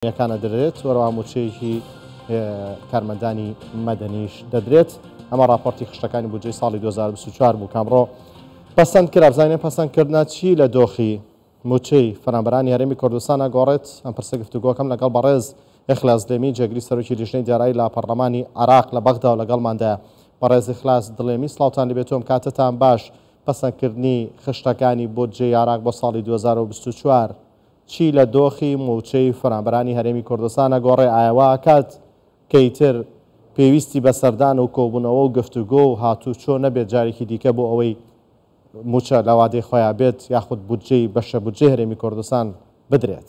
کۆمپانیاکان ئەدرێت وەرەوا موچەیەکی کارمەندانی مەدەنیش دەدرێت ئەمە راپۆرتی خشتەکانی بودجەی ساڵی 2024 بوو کامڕۆ پەسەند کرا بزانین پەسەندکردە چی لە دۆخی موچەی فەرامبەرانی هەرێمی کوردستان ئەگۆڕێت ئەم پرسە گفتوگۆکەم لەگەڵ بەڕێز ئەخلاس دێمی جێگری سەرۆکی لیژنەی دارایی لە پەرلەمانی عراق لە بەغدا و لەگەڵماندایە بەڕێز ئەخلاس دڵێمی سڵاوتان لەبێتۆم کاتتان باش پەسەندکردنی خشتەکانی بۆ جێ یاراق بۆ ساڵی 2024 چی لە دۆخی مووچەی فەرانبەرانی هەرێمی کوردستانە گۆڕێ ئایا وا ئەکات کە ئیتر پێویستی بە سەردان و کۆبوونەوە و گفتوگۆ و هاتوو چۆ نەبێت جارێکی دیکە بۆ ئەوەی مووچە لە وادەی خۆیا بێت یاخود بودجەی بەشە بودجەی هەرێمی کوردستان بدرێت.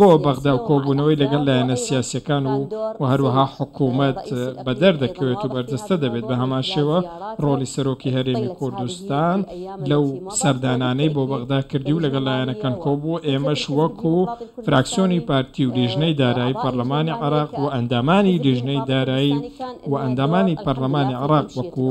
بۆ بەغدا و کۆبوونەوەی لەگەڵ لایەنە سیاسیەکان و و هەروەها حکوومەت بەدەر دەکەوێت و بەرجەستە دەبێت بە هەمان شێوە ڕۆڵی سەرۆکی هەرێمی کوردستان لەو سەردانانەی بۆ بەغدا کردی و لەگەڵ لایەنەکان کۆبوو ئێمەش وەک و فراکسیۆنی پارتی و لیژنەی دارایی پەرلەمانی عراق و ئەندامانی لیژنەی دارایی و ئەندامانی پەرلەمانی عراق وەکو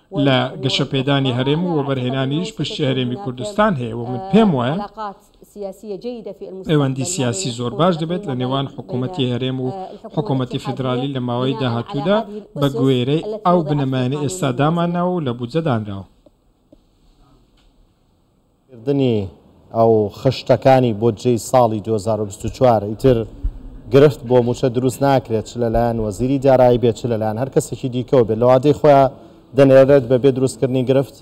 لە گەشەپێدانی هەرێم و وەبەرهێنانیش پشتی هەرێمی کوردستان هەیە و من پێم وایە پەیوەندی سیاسی زۆر باش دەبێت لە نێوان حکوومەتی هەرێم و حکوومەتی فیدرالی لە ماوەی داهاتوودا بە گوێرەی ئەو بنەمایانە ئێستا دامانناوە و لە بودجە دانراوە. کردنی ئەو خشتەکانی بۆدجەی ساڵی دوو هەزار و بیست و چوار ئیتر گرفت بۆ مووچە دروست ناکرێت چ لەلایەن وەزیری دارایی بێت چ لەلایەن هەر کەسێکی دیکەوە بێت لەوادەی خۆیا دەنێرێت بەبێ دروستکردنی گرفت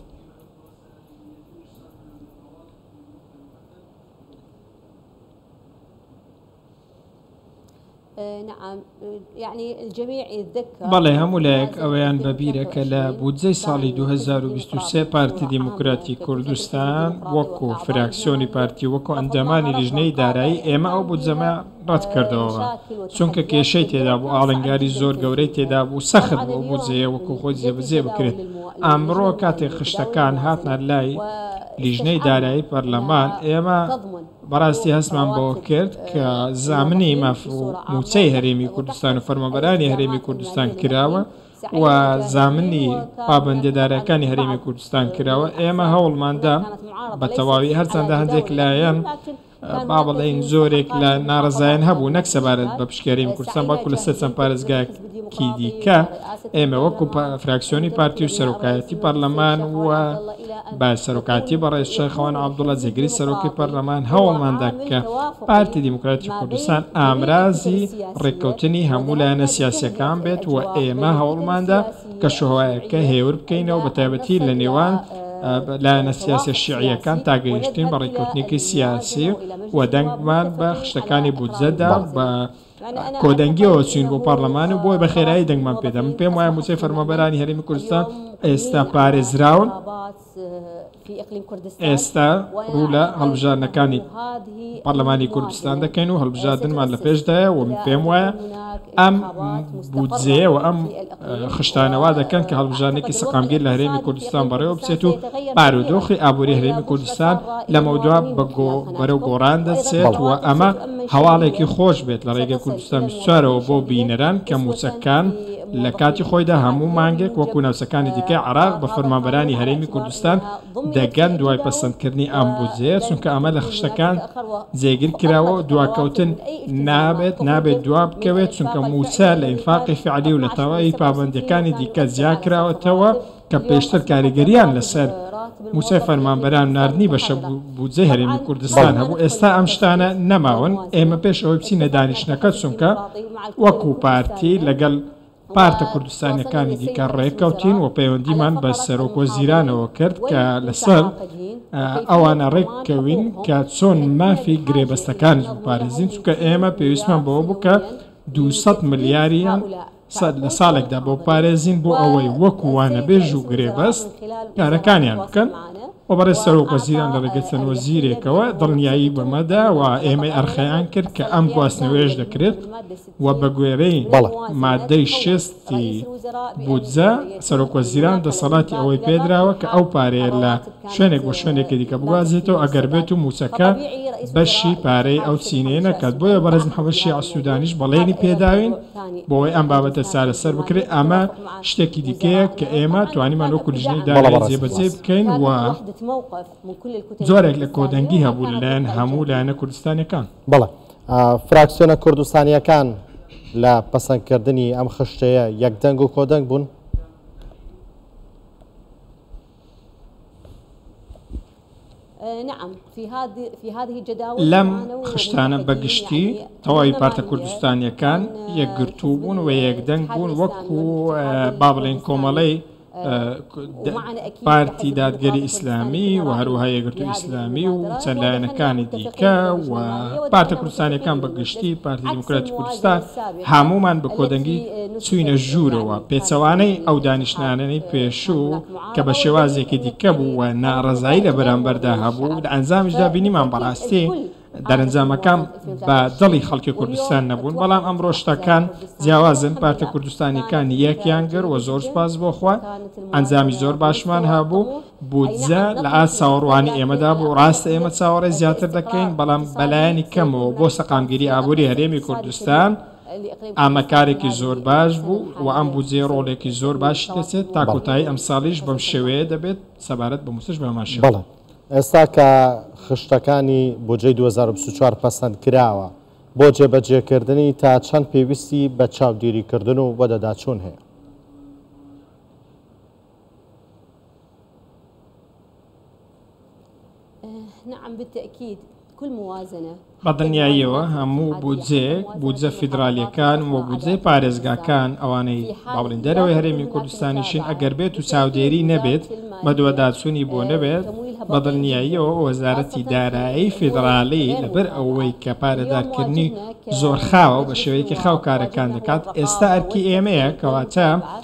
بەڵێ هەموو لایەک ئەوەیان بە بیرە کە لە بودجەی ساڵی 2023 پارتی دیموکراتی کوردستان وەکو فراکسیۆنی پارتی و وەکو ئەندامانی لیژنەی دارایی ئێمە ئەو بودجەمان ڕەتکردەوە چونکە کێشەی تێدا بوو ئاڵنگاری زۆر گەورەی تێدا بوو سەخت بوو ئەو بودجەیە وەکو خۆی جێبەجێ بکرێت ئەمڕۆ کاتێک خشتەکان هاتنە لای لیژنەی دارایی پەرلەمان ئێمە بەڕاستی هەستمان بەوە کرد کە زامنی ماف و مووچەی هەرێمی کوردستان و فەرمانبەرانی هەرێمی کوردستان کراوە و زامنی پابەندێدارەکانی هەرێمی کوردستان کراوە ئێمە هەوڵماندا بە تەواوی هەرچەندە هەندێک لایەن با بڵێن زۆرێک لە ناڕزایان هەبوو نەک سەبارەت بە پشکێریم کوردستان بەڵکو لەسەر چەند پارێزگایەک ی دیکە ئێمە وەکو فراکسیۆنی پارتی و سەرۆکایەتی پەرلەمان و بە سەرۆکاتی بەڕێز شەخوان عبدڵە جێگری سەرۆکی پەرلەمان هەوڵماندا کە پارتی دیموکراتی کوردستان ئامرازی ڕێککەوتنی هەموو لایەنە سیاسەکان بێت و ئێمە هەوڵماندا کە شوهوایەکە هێور بکەینەوە بە تایبەتی لە نێوان لایەنە سیاسە شیعیەکان تاگەیشتین بە ڕێککەوتنێکی سیاسی و دەنگمان بە خشتەکانی بودجەدا بە کۆدەنگیەوە چووین بۆ پارلەمان و بۆیە بەخێرایی دەنگمان پێدا من پێم وایە مووچەی فەرمانبەرانی هەرێمی کوردستان ئێستا پارێزراون ئێستا ڕوو لە هەڵبژاردنەکانی پەرلەمانی کوردستان دەکەین و هەڵبژاردنمان لە پێشدایە و پێم وایە ئەم بودجەیە و ئەم خشتانە وا دەکەن کە هەڵبژاردنێکی سەقامگیر لە هەرێمی کوردستان بەڕێوە بچێت و بارودۆخی ئابووری هەرێمی کوردستان لەمەودوا بەرەو گۆڕان دەچێت و ئەمە هەواڵێکی خۆش بێت لە ڕێگەی کوردستان بیست و چوارەوە بۆ بینەران کە مووچەکان لە کاتی خۆیدا هەموو مانگێک وەکو ناوچەکانی دیکەی عێراق بە فەرمانبەرانی هەرێمی کوردستان دەگەن دوای پەسەندکردنی ئەم بودجەیە، چونکە ئەمە لە خشتەکان جێگر کراوە و دواکەوتن نابێت، نابێت دوا بکەوێت، چونکە مووچە لە ئینفاقی فعلی و لە تەواوی پابەندییەکانی دیکە جیا کراوەتەوە کە پێشتر کاریگەرییان لەسەر مووچەی فەرمانبەران و ناردنی بەشە بودجەی هەرێمی کوردستان هەبوو، ئێستا ئەم شتانە نەماون، ئێمە پێش ئەوەی بچینە دانیشتنەکە، چونکە وەکو پارتی لەگەڵ. پارتە کوردستانیەکانی دیکە ڕێککەوتین و پەیوەندیمان بە سەرۆک وەزیرانەوە کرد کە لەسەر ئەوانە ڕێککەوین کە چۆن مافی گرێبەستەکانیش بپارێزین چونکە ئێمە پێویستمان بەوە بکە 200 ملیاریان سەد لە ساڵێکدا بۆ پارێزین بۆ ئەوەی وەکووانە بێژ و گرێبەست کارەکانیان بکەن و بەڕێ سەرۆک وەزیران لە ڕێگە چەند وەزیرێکەوە دڵنیایی بەمەدا و ئێمەی ئەرخەیان کرد کە ئەم گواستنەوێش دەکرێت و بە گوێرەی مادەی شەست ی بودجە، سەرۆکوەزیران دەسەڵاتی ئەوەی پێدراوە کە ئەو پارەیە لە شوێنێک بۆ شوێنێکی دیکە بگوازێتەوە ئەگەر بێت و مووچەکە بەشی پارەی ئەو چینەیە نەکات، بۆیە بەڕێز محەمەد شیاع سودانیش بەڵێنی پێداوین بۆوەی ئەم بابەتە چارەسەر بکرێت، ئەمە شتێکی دیکەیە کە ئێمە توانیمان وەکو لیژنەی دارایی جێبەجێی بکەین و جۆرێک لە کۆدەنگی هەبوو لەلایەن هەموو لایەنە کوردستانیەکان. فراکسیۆنە کوردستانییەکان لە پەسەندکردنی ئەم خشتەیە یەکدەنگ و کۆدەنگ بوون. لەم خشتانە بەگشتی تەواوی پارتە کوردستانیەکان یەکگرتوو بوون و یەکدەنگ بوون وەکو با بڵێن کۆمەڵەی پارتی دادگەری ئیسلامی و هەروەها یەگرتو ئیسلامی و چەند لایەنەکانی دیکە و پارتە کوردستانەکان بە گشتی پارتی دیموکراتی کوردستان هەمومان بە کۆدەنگی چوینە ژوورەوە پێچەوانەی ئەو دانیشتنانەی پێشوو کە بە شێوازێکی دیکە بوو و ناڕەزایی لە بەرامبەردا هەبوو لە ئەنجامیشدا بینیمان بەڕاستی دەرەنجامەکان بە دڵی خەڵکی کوردستان نەبوون بەڵام ئەمڕۆ شتەکان جیاوازن پارتە کوردستانیەکان یەکیان گەر وە زۆر سپاس بۆ خوا ئەنجامی زۆر باشمان هەبوو بودجە لە ئاست چاوەڕوانی ئێمەدا بوو ڕاستە ئێمە چاوەڕێ زیاتر دەکەین بەڵام بەلایەنی کەمەوە بۆ سەقامگیری ئابووری هەرێمی کوردستان ئەمە کارێکی زۆر باش بوو و ئەم بودجێ ڕۆڵێکی زۆر باشی دەچێت تا کۆتایی ئەمساڵیش بەم شێوەیە دەبێت سەبارەت بە موسش بەماشێوە. ئێستا کە خشتەکانی بودجەی دوو هەزار و بیست و چوار پەسەند کراوە، بۆ جێبەجێکردنی تا چەند پێویستی بە چاودیریکردن و وەدەداچوون هەیە؟ بە دڵنیاییەوە هەموو بودجەیەک، بودجە فیدرالییەکان و بودجەی پارێزگاکان، ئەوانەی باوەڕین دەرەوەی هەرێمی کوردستانیشن، ئەگەر بێت و چاودێری نەبێت، بەدواداچوونی بۆ نەبێت، بە دڵنیاییەوە وەزارەتی دارایی فیدرالی لەبەر ئەوەی کە پارەدارکردنی زۆرخاوە و بە شێوەیەکی خاو کارەکان دەکات، ئێستا ئەرکی ئێمەیە، کەواتە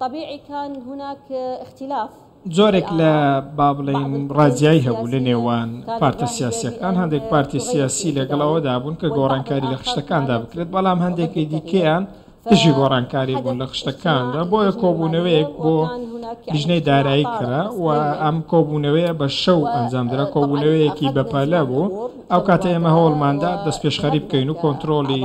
طبیعی کان هناک اختلاف جۆرێک لە با بڵێین ڕاجایی هەبوو لە نێوان پارتە سیاسیەکان هەندێک پارتی سیاسی لەگەڵ ئەوەدا بوون کە گۆڕانکاری لە خشتەکاندا بکرێت بەڵام هەندێکی دیکەیان دژی گۆڕانکاری بوون لە خشتەکاندا بۆیە کۆبوونەوەیەک بۆ لیژنەی دارایی کرا و ئەم کۆبوونەوەیە بە شەو ئەنجامدرا کۆبوونەوەیەکی بەپەلە بوو ئەو کاتە ئێمە هەوڵماندا دەست پێشخەری بکەین و کۆنتترۆلی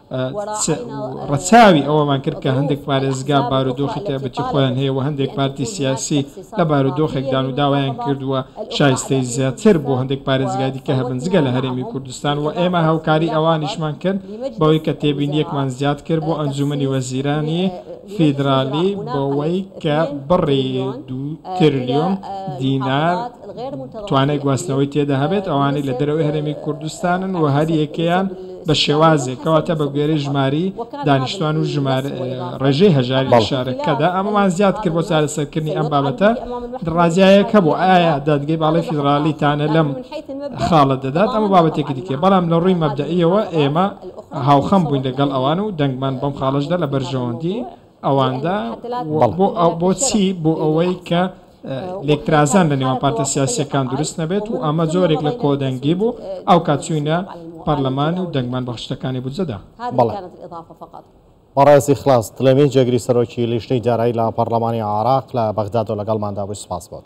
چ ڕەچاوی ئەوەمان کرد کە هەندێک پارێزگا بارودۆخی تایبەتی خۆیان هەیە و هەندێک پارتی سیاسی لە بارودۆخێکدان و داوایان کردووە شایستەی زیاتر بۆ هەندێک پارێزگای دیکە هەبن جگە لە هەرێمی کوردستان و ئێمە هاوکاری ئەوانیشمان کرد بەوەی کە تێبینیەکمان زیاد کرد بۆ ئەنجومەنی وەزیرانی فیدرالی بەوەی کە بڕی دوو تریلیۆن دینار توانای گواستنەوەی تێدا هەبێت، ئەوانەی لە دەرەوەی هەرێمی کوردستانن و هەر یەکەیان بە شێوازێک، کەواتە بە گوێرەی ژمارەی دانیشتوان و ڕێژەی هەژاری لە شارەکەدا، ئەمەمان زیاد کرد بۆ چارەسەرکردنی ئەم بابەتە درازایەک هەبوو، ئایا دادگەی باڵای فیدراڵی تانە لەم خاڵە دەدات، ئەمە بابەتێکی دیکەیە، بەڵام لە ڕووی مەبدەئییەوە ئێمە هاوخەم بووین لەگەڵ ئەوان و دەنگمان بەم خاڵەشدا لە بەرژەوەندی. ئەواندا و بۆچی بۆ ئەوەی کە لێکترازان لە نێوان پارتە سیاسیەکان دروست نەبێت و ئەمە زۆرێک لە کۆدەنگی بوو ئەو کاتچوینە پەرلەمان و دەنگمان بەخشتەکانی بودجەدا بەڕێزی خلاص دلێمی جێگری سەرۆکی لیژنەی دارایی لە پەرلەمانی عراق لە بەغداد و لەگەڵماندا بووی سپاس بۆت.